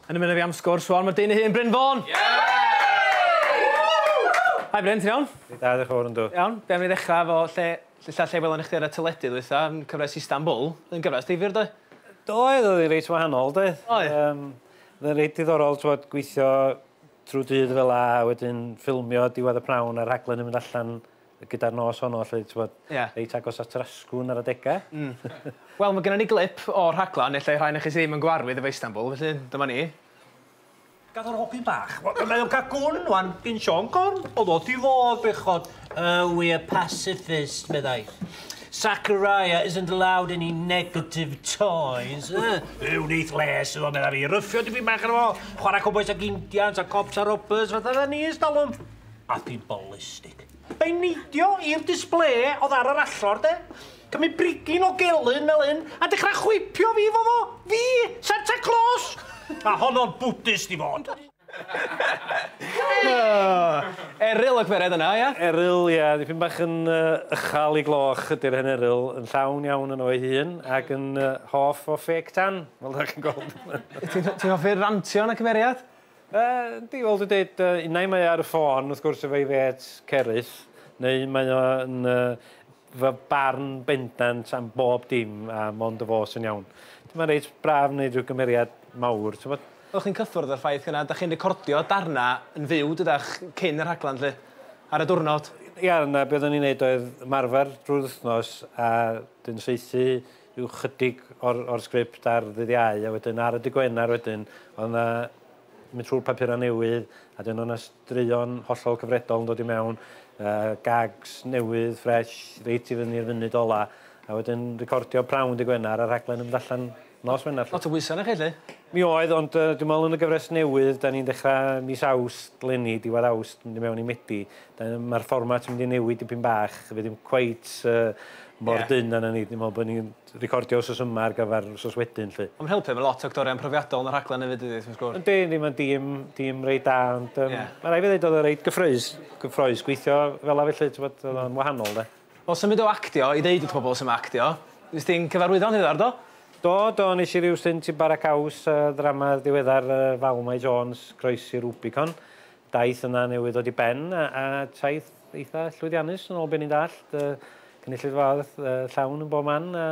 Yn ymuno fi am sgwrs rwan, mae'r dyn ei hun, Bryn Fôn! Hi Bryn, ti'n iawn? Dwi'n da, diolch yn fawr, yndw. Iawn, be am ni ddechrau efo lle, lle, lle, lle welon ni chdi ar y teledu ddwytha, yn cyfres Istanbul, yn gyfres difyr doedd? Doedd, oedd hi'n reit wahanol doedd. Oedd. Um, oedd hi'n reit diddorol twod, gweithio trwy dydd fel a, wedyn ffilmio diwedd y prawn a'r rhaglen yn mynd allan gyda'r nos honno 'lly t'mod... Ie. ...reit agos at yr asgwrn ar adega. Hmm. Wel ma' gynnon ni glip o'r rhaglan ellai rhai onoch chi sy ddim yn gyfarwydd efo Istanbul felly dyma ni. Gath o'r hopyn bach. Wel mae o'n ca'l gwn ŵan gin Siôn Corn. O'dd o 'di fod bechod. Oh we are pacifist meddai. Zachariah isn't allowed any negative toys. Yy yy wnith les iddo medda fi. Ryffio dipyn bach arno fo. Chwara cowbois ac indians a cops a robbers fatha 'dda ni e's dalwm. a phimbolistig. Mae'n neidio i'r disble oedd ar yr allor, de? Cymru brigyn o gelyn fel hyn, a dechrau chwipio fi fo fo! Fi! Santa Claus! A honno'n Buddist i fod! Eryl y gwered yna, ia? Eryl, ia. Dipyn bach yn ychal i gloch ydy'r hen eryl, yn llawn iawn yn o'i hun, ac yn hoff o ffêc tan, fel da chi'n gweld. Ti'n hoffi'r rantio yn y cymeriad? Yndi, fel dwi'n deud, unai mae o ar y ffôn, wrth gwrs, efo'i fêts Cerys, neu mae o yn fy barn bendant am bob dim a mond y fo sy'n iawn. Mae'n reit braf wneud rhyw gymeriad mawr, ti'n gwybod. Oeddech chi'n cyffwrdd â'r ffaith gynnau, dach chi'n recordio darnau yn fyw, dydach, cyn y rhaglen 'lly, ar y diwrnod? Ia, na, be oeddwn ni'n wneud oedd ymarfer drwy'r wythnos a wedyn saethu rhyw chydig o'r o'r sgript ar ddydd Iau a wedyn ar y dy Gwener wedyn o'dd 'na mynd trw'r papura newydd a 'dyn o' 'na straeon hollol cyfredol yn dod i mewn yy gags newydd fresh reit i fyny'r funud ola a wedyn recordio prawn dy Gwener a rhaglen yn mynd allan nos Wener 'lly. Lot o bwysa' arnoch chi 'lly? Mi oedd ond yy dwi me'wl yn y gyfres newydd 'dan ni'n dechra mis Awst leni diwedd Awst mynd i mewn i Medi Yy ma'r fformat yn mynd i newid dipyn bach fe ddim cweit yy mor... Ie. ...dynn â 'na ni. Dwi me'wl bo' ni'n recordio wsos yma ar gyfar wsos wedyn 'lly. On' ma'n helpu efo lot o actorion profiadol yn y rhaglen efyd dydi wrth gwrs. Yndi yndi ma'n dîm dîm reit da ond yym... Ie. ...ma' rai' fi ddeud o'dd o reit gyffrous gyffrous gweithio fel 'a felly t'mod o'dd o'n wahanol 'de. Wel symud o actio i ddeud wrth pobol su' ma' actio. Nes di'n cyfarwyddo'n ddiweddar do? Do do nesh i ryw stint i Bara Caws yy ddrama ddiweddar yy Val Mai Jones Croesi Rubicon daith yna newydd ddod i ben a, a taith eitha llwyddiannus yn ôl beth ni'n dallt. Uh, cynulleidfa arth uh, llawn yn bob man a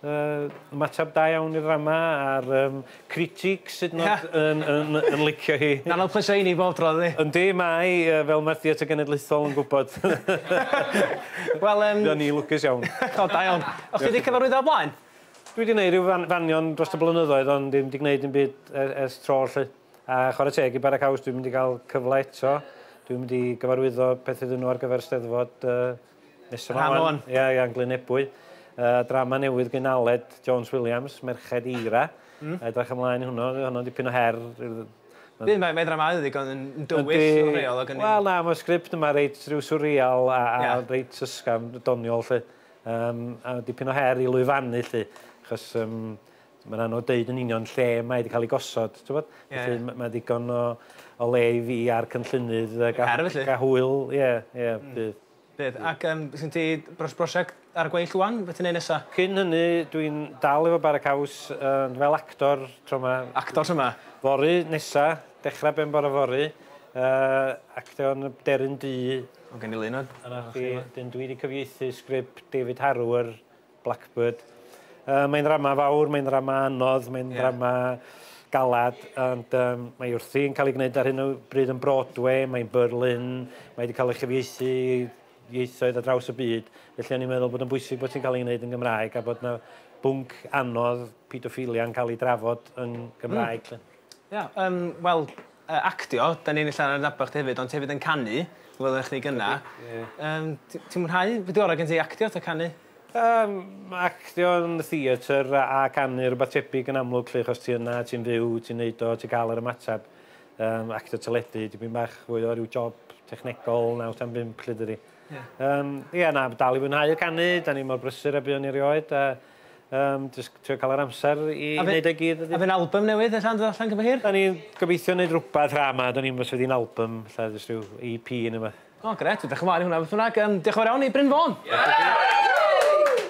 uh, ymateb da iawn i'r ddrama a'r um, critig sydd nod yn, yn, yn, yn licio hi. Na, na'n pwysau i ni bob tro, ddi. Yndi, mae, uh, fel mae'r theatr genedlaethol yn gwybod. Wel, um... Dyna ni lwcus iawn. o, da iawn. O'ch chi wedi cyfarwyddo o blaen? Dwi wedi gwneud rhyw fan, fanion dros y blynyddoedd, ond ddim wedi gwneud yn byd ers, ers tro, lle. A chwarae teg i Bara Caws, dwi'n mynd i gael cyfle eto. Dwi'n mynd i gyfarwyddo peth iddyn nhw ar gyfer Steddfod uh, nesaf Rhan o'n. Ie, yeah, yeah, Glyn Ebwy. Uh, drama newydd gyn Aled Jones Williams, Merched Eira. Mm. Edrych ymlaen i hwnnw, hwnnw'n dipyn o her. Dwi'n mae, mae dramau ddigon yn dywyll o reol. Wel na, mae'r sgript yma reit rhyw surreal a, a yeah. reit ysgafn, doniol lle. Um, a dipyn o her i lwyfannu lle. Chos um, Mae'n anodd deud yn union lle mae 'di cael ei gosod, t'wbod? Ie. Felly m- mae digon o o le i fi a'r cynllunydd yy ga-... Cer felly. ...ga' hwyl, ie, ie, bydd. Bydd. Ac yym sgin ti bros- brosiect ar y gweill ŵan be' ti'n neud nesa? Cyn hynny dwi'n dal efo Bara Caws ond fel actor tro 'ma. Actor tro 'ma? Fory nesa, dechra ben bore fory yy actio yn y Deryn Du. O gen i lun o... Arna chdi. ...'dyn dwi 'di cyfieithu sgript David Harrower Blackbird. Uh, mae'n rama fawr, mae'n rama anodd, mae'n yeah. rama galad, ond um, mae wrthi yn cael ei gwneud ar hyn o bryd yn Broadway, mae'n Berlin, mae wedi cael ei chyfieithu ieithoedd a draws y byd, felly o'n i'n meddwl bod yn bwysig bod ti'n cael ei wneud yn Gymraeg a bod yna bwnc anodd pedophilia yn cael ei drafod yn Gymraeg. Mm. Ia, um, wel, Yy actio, 'dan ni'n ella adnabod chdi hefyd ond ti hefyd yn canu, welon ni chdi gynna'. Yndi, ie. Yym t- ti'n mwynhau, be' 'di ora' gen ti, actio ta canu? Yym ma' actio yn y theatr a a canu rwbath tebyg yn amlwg 'lly achos ti yna, ti'n fyw, ti'n neud o, ti'n ca'l yr ymateb. Yym actio teledu dipyn bach fwy o ryw job technegol naw tan bump 'lly dydi? Ie. Yym ie na, dal i fwynhau canu, 'dan ni mor brysur a buon ni erioed a Yym jyst trio ca'l yr amser i neud e gyd ydi? A fy'n albym newydd ella'n dod allan cyn bo hir? 'Dan ni'n gobeithio neud rwbeth ra 'ma 'dan ni'm os fydd 'i'n albym ella jyst ryw EP ne' wbath. O grêt, edrych ymlaen i hwnna beth bynnag. Yym, dioch yn fawr iawn i Bryn Fôn. Ie!